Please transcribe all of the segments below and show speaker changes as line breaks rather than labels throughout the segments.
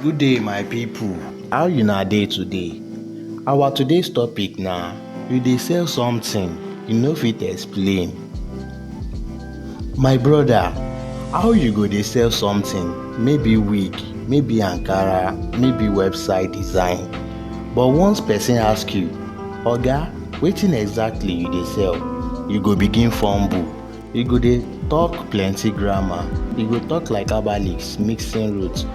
Good day my people, how una dey today? Our today's topic na you dey sell something you no fit explain. My brother how you go dey sell something maybe wig, maybe ankara, maybe website design but once person ask you oga wetin exactly you dey sell you go begin fumble. e go dey talk plenty grammar e go talk like herbalists mixing roots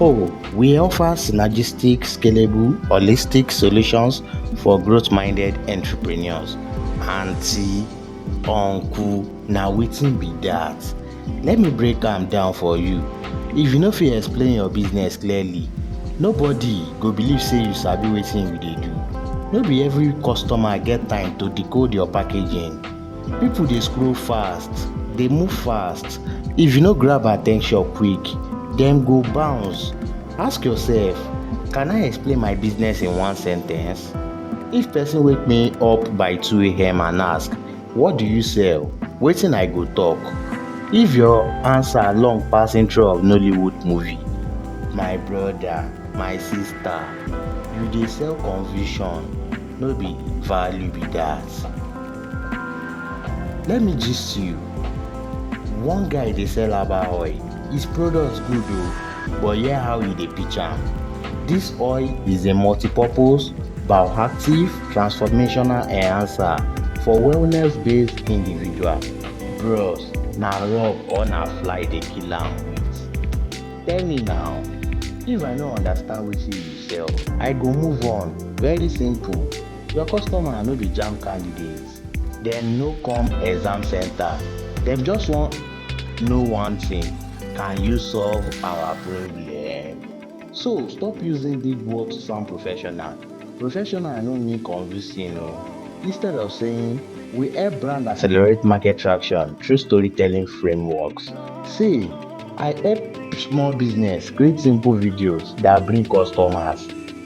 oh we offer synergistic scalable holistic solutions for growth minded entrepreneurs aunty uncle na wetin be that let me break am down for you if you no fit explain your business clearly nobody go believe say you sabi wetin you dey do no be every customer get time to decode your packaging People dey scroll fast, dey move fast, if you no grab attention quick, dem go bounce. Ask yourself, can I explain my business in one sentence? If person wake me up by 2 a.m. and ask, what do you sell? Wetin I go talk? If your answer long pass intro of Nollywood movie, my brother, my sister, you dey sell confusion, no be value be that. Let me gist you. One guy dey sell herbal oil. His products good o, but hear how e dey pitch am. This oil is a multi-purpose, bioactive, transformational enhancer for wellness-based individual. Bros, na rub or na fly dey kill am with? Tell me now, if I no understand wetin you sell, I go move on. Very simple. Your customer no be JAMB candidates. Dem no come exam center. Dem just wan know one thing, can you solve our problem? So stop using big words to sound professional. Professional no mean convincing o. Instead of saying we help brand accelerate market traction through storytelling frameworks, say I help small business create simple videos that bring customers.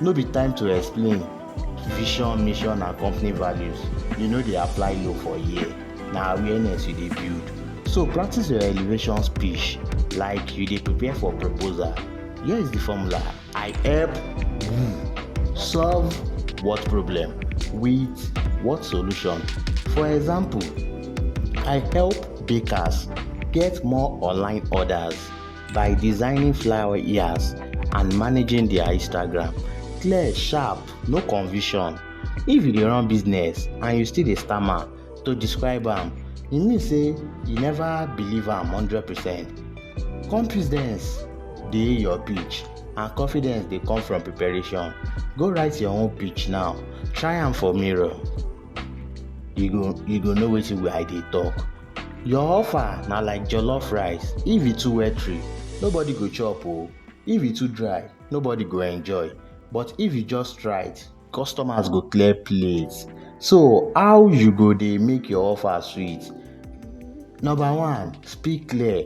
No be time to explain vision, mission and company values. You no dey apply law for here, na awareness you dey build. So practice your elevation speech like you dey prepare for proposal. Here is the formula. I help you solve what problem with what solution. For example, I help bakers get more online orders. by designing flower ears and managing their Instagram. Clear, sharp, no confusion. If you dey run business and you still dey stammer to describe am, e mean say you never believe am hundred percent. Confidence dey your pitch and confidence dey come from preparation. Go write your own pitch now, try am for mirror. You go you go know wetin I dey talk. Your offer na like jollof rice, if e too watery, nobody go chop o, if e too dry, nobody go enjoy but if e just right, customers go clear plate. So how you go dey make your offer sweet? Number one, speak clear,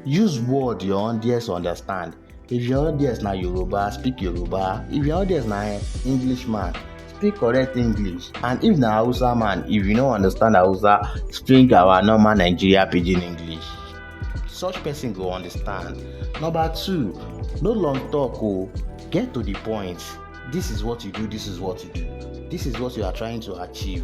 use word your audience understand. if your audience na yoruba speak yoruba if your audience na english man speak correct english and if na hausa man if you no understand hausa speak our normal nigeria pidgin english such person go understand number two no long talk o oh. get to the point this is what you do this is what you do this is what you are trying to achieve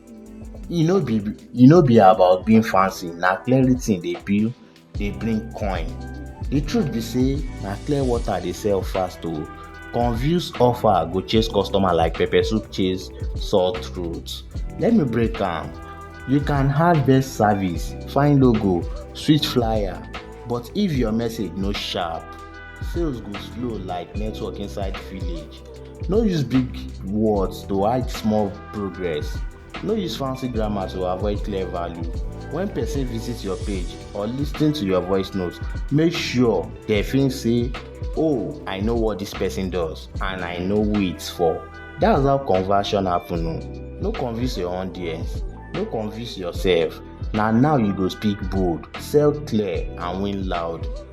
e no be e no be about being fancy na clearly thing dey build dey bring coin the truth be say na clear water dey sell fast o oh. confused offer go chase customer like pepper soup chase sore throat let me break am you can have best service fine logo sweet flyer but if your message no sharp sales go slow like network inside village. No use big words to hide small progress. No use fancy grammar to avoid clear value. When person visit your page or lis ten to your voice note, make sure they feel say, oh, I know what this person does and I know who it's for. That's how conversion happen o. Oh. No convince your audience, no convince yourself. Na now you go speak bold, sell clear and win loud.